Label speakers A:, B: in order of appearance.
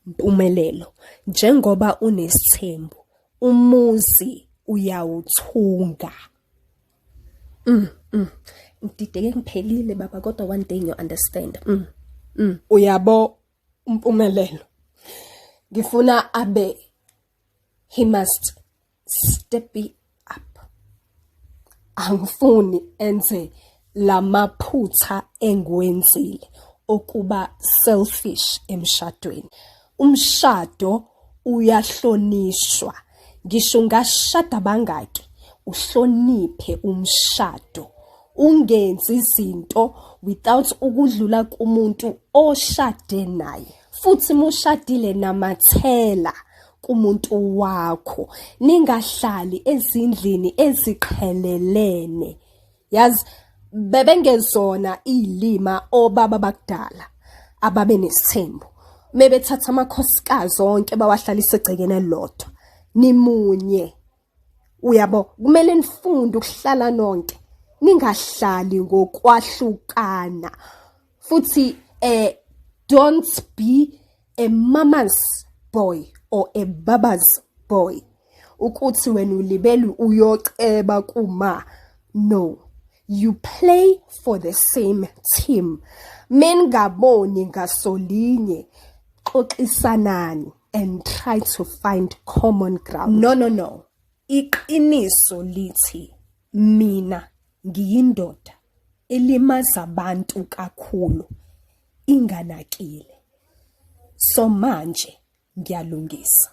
A: Mpumelelo, njengoba unesithembu, umuzi uyawuthunga. Mm, mm. Ngidideke ngiphelile baba kodwa one day you understand. Mm. Mm. Uyabo umpumelelo. Ngifuna abe he must step it up angifuni enze lamaphutha engiwenzile okuba selfish emshadweni umshado uyahlonishwa ngisho ngashada bangaki uhloniphe umshado ungenzi izinto without ukudlula kumuntu oshade naye futhi mushadile namathela kumuntu wakho ningahlali ezindlini eziqhelelene yazi bebengezona ilima obaba bakudala ababe nesithembu mebethatha amakhosikazi onke bawahlalise egcekene lodwa nimunye Uyabo kumele nifunde ukuhlala nonke ningahlali ngokwahlukana futhi eh don't be a mama's boy or a baba's boy ukuthi wena ulibelu uyoceba kuma no you play for the same team mengaboni ngasolinye xoxisanani and try to find common ground no no no iqiniso lithi mina ngiyindoda elimaza abantu kakhulu inganakile so manje ngiyalungisa